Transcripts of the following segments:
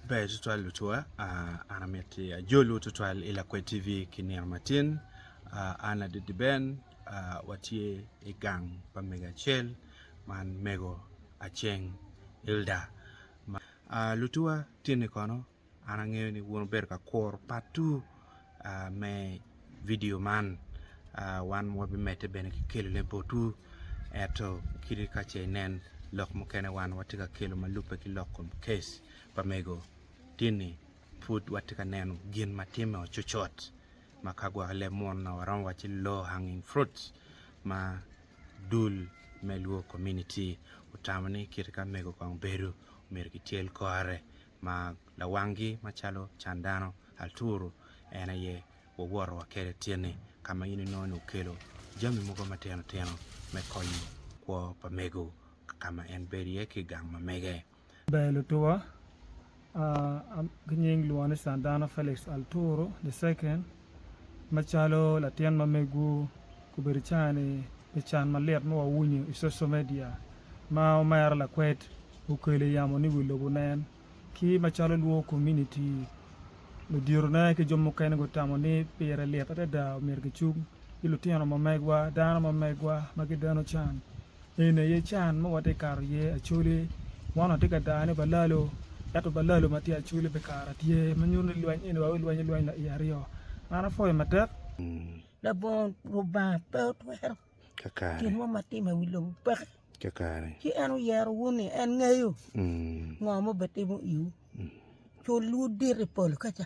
Ber tutwal lucwa an amiti ajolu tutwal i lakwed TV ki nino matin an Aditi Ben watye i gang pa mego acel man mego Aceng Elda lucwa tinni kono an angeyo ni wun wubedo ka kuru part two. me vidio man wan wabimedde bene ki kelone botwu ento kadi ka ce inen lok mukene wan watye ka kelo ma lubbe ki lok kom case pa mego ini pud watye ka neno gin ma timme o cocot ma ka gwok leb munu nongo waromo wacci low hanging fruits ma dul me Luo komuniti otamo ni kit ka mego kong bedo myero kityel kore ma lawanggi macalo can dano, aturu en aye wawoto wa kwede tyeni ka ma in inongo ni okelo jami mogo matino tino me konyo kwo pa mego ka ma en bedo iye ki i gang ma mege. Ber lutuwa, Ki nying lwongo ni can dano Felix Alturu the second. Macalo latin ma megwu, gubedo i caa-ni pi can malit ma wawinyo i coco media ma omera lakwed okelo i yamo ni wi lobo nen. Ki macalo lwor komuniti, luditona ki jo mukene gutamo ni pire lit adada omyero gicung ki lutino ma megwa, dano ma megwa ma gideno can. Eni aye can ma watye ka kato iye Acholi. Man watye ka dano ni balalo ento balalo ma tye Acholi bikare tye ma nyuto ni lweny eni wa wilweny alweny wa i aryo. An apwoyo matek. Labongo Lubanga pe otwero gin mo ma timme i wi lobo peki. Ci en oyero wu ni en ngeyo ngo ma obitimo iwu. Culwu dit i pol kica.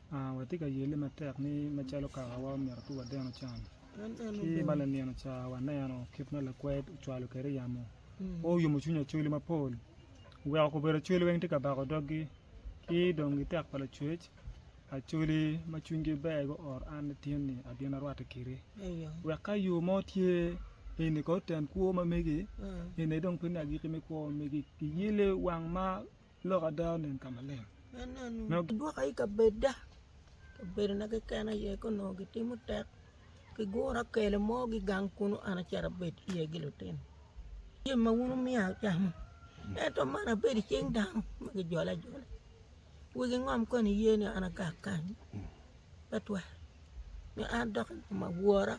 Watye ka yelle matek ni macalo kakawa omyero pe wadeno can. Ci ma lanino ca waneno kit ma lakwed ocwalo kwede yamo, pe oyumo cwiny Acholi mapol, oweko obedo Acholi weng tye ka bako doggi. Ki dong i tek pa Lacwec, Acholi ma cwinygi ber guoro an Latinni abino arwatte kiti wek ka yo mo tye eni kong oten kwo ma megi, eni aye dong pinne agikki me kwo ma megi. Kiyelle wang ma Lok ada onen ka maleng. Nongo gidwoka i kabedda, kabedona keken aye ka onongo gitimo tek gigura kelo mo gigang kunu an acito abed iye gi lutino. Jami ma wun wumiya acamo ento man abedo i cing dano ma gijolo ajola. Wigi ngom koni iye ni an agak kany pe twero ni an dok i kom awora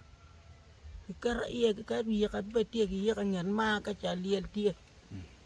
kiketo iye kiketo yika bed tye ki yika i nget mar ka cal lyel tye.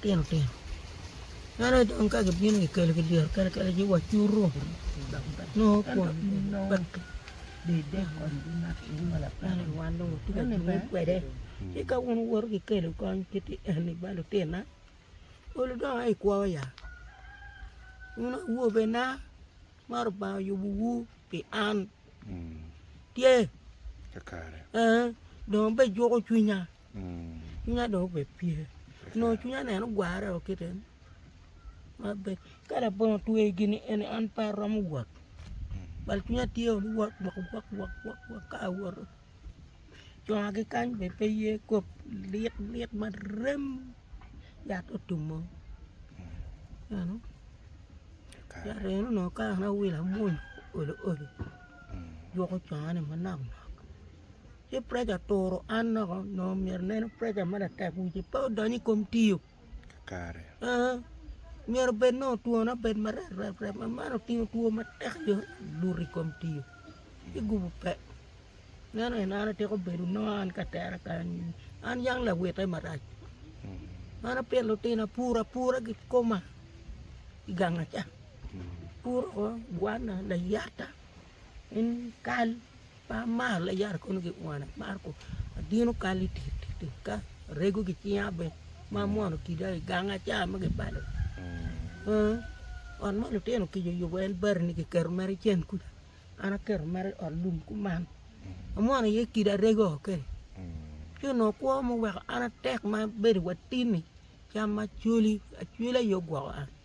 Tino tino eno aye dong ka gibino gikelo ki dyere kene kene ci wacutu nongo kwon pekki eno wan dong watye ka jumi kwede ci ka wun wuwoto kikelo kony kit eni ba lutina olu dong aye ikwo ya wun awobena ma Lubanga oyubuwu pi an tye ee dong abejuko cwinya Cwinya dong obed pye, onongo cwinya ni en ogwarre o kite ni ma bed ka labongo otweyo gini eni an pe aromo wot bal cwinya tye o liwot wok wok wok wok wok ka awoto conga ki kany bene pe ye kop lik lik ma rem yat otumo eno yat eno onongo ka an awilo amuny olo olo jwoko conga ni manok nok. ci preca oturo an loko onongo myero oneno preca ma latek wici pe odony i kom tiyo kare aa myero bed nongo twone obed ma rep rep rep ma man otingo two matek dong oluto i kom tiyo ci gubu pe meno en an atyeko bedo nongo an ka tera kany an yang lawite marac an apito lutino apuro apura gikoma i ganga ca apuro woko gwana layata kal Mar mar la yara kono ki kwana mar ko adino kal i tit tit ka arego ki cinga bene ma amwono kida i gang aca ma gibalo ot ma lutino kic oyubo en bati ni kiketo mere cen kuca an aketo mere i ot lum kuman amwono iye kida arego kene ci onongo kwo ma oweko an atek ma abedo wa tin ni cam macoli acwila aye ogwoko an.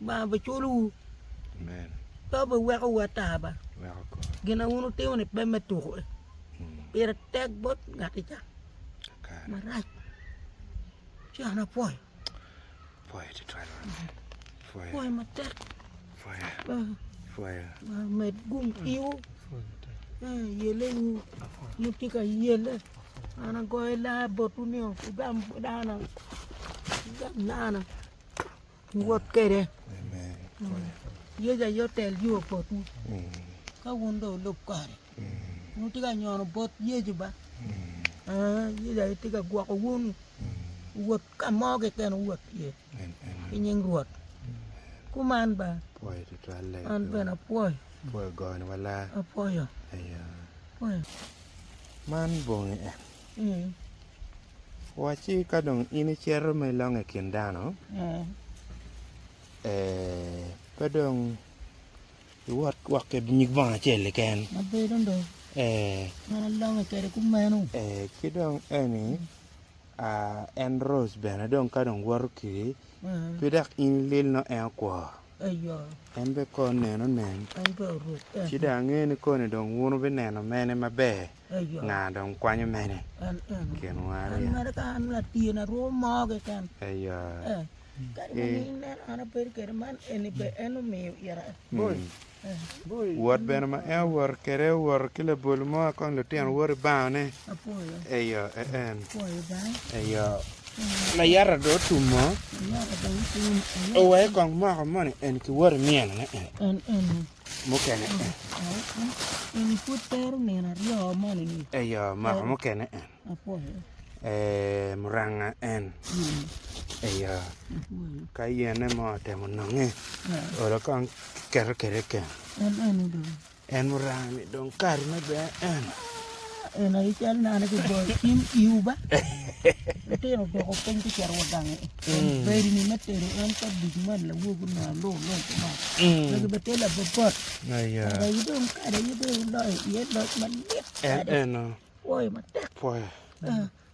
Lubanga biculowu pe biweko wu ata ba. Gin ma wun wutimo ni pe me tuko e pire tek bot ngati ca marac ci an apwoyo pwoyo matek Lubanga med gung kiwu me yele wu wun wutye ka yele an agoyo lar botwu ni wugam dana wugam dana. wot kwede. Yecu aye otel yo botwu. Ka wun dong wulub kore, wutye ka nyono bot Yecu ba. Yecu aye tye ka gwoko wun wot ka mo keken wuwot iye ki nying Rwot. Kuman ba. An bene apwoyo. Apwoyo. Man bongi en. Wacci ka dong in icito ma ilongo i kin dano, pe dong iwot wok ki nyig bongo acel keken, ki dong eni en roc bene ka dong woto kwiri pe dok in lel nongo en okwo. En bene kor neno nen, ci dong ange ni koni dong wun wubineno mene maber, nga dong kwanyo mene i kinwa aryo? Wot bene ma en owoto kwede owoto ki labol mo kong lutino woto i bangone. Layata-du otum mo, oweke kong moko moni eni ki woti myeno-ne eni mukene eni. Eyo, moko mukene eni muranga eni. Eyo, ka yene mo otemo nonge, olo kong kiketo kede keken. En oranga ni dong kare me bene eno. En aye cal nane ki boyo cim iwu ba. Lutino odoko piny ki cito wa gangi. En mm. bedi ni me tedo en ka duc man lawogu na lu lu kuma. Mm. Magi bete la bobot. Aya. Ada yi dong kada yi dong loyo iye loc malit. En eno. Woyo matek. Woyo. Ah.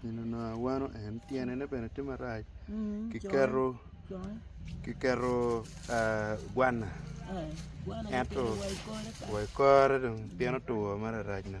Gin onongo awano en tyene ne bene tye marac kiketo kiketo gwana ento wa i kore dong pien otwo mararac-na.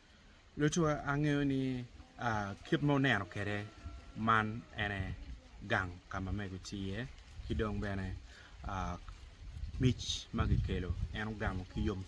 Lucu angeyo ni kit ma wuneno kwede man ene gang ka ma mego tye iye ki dong bene mic ma kikelo en ogamo ki yomcwiny.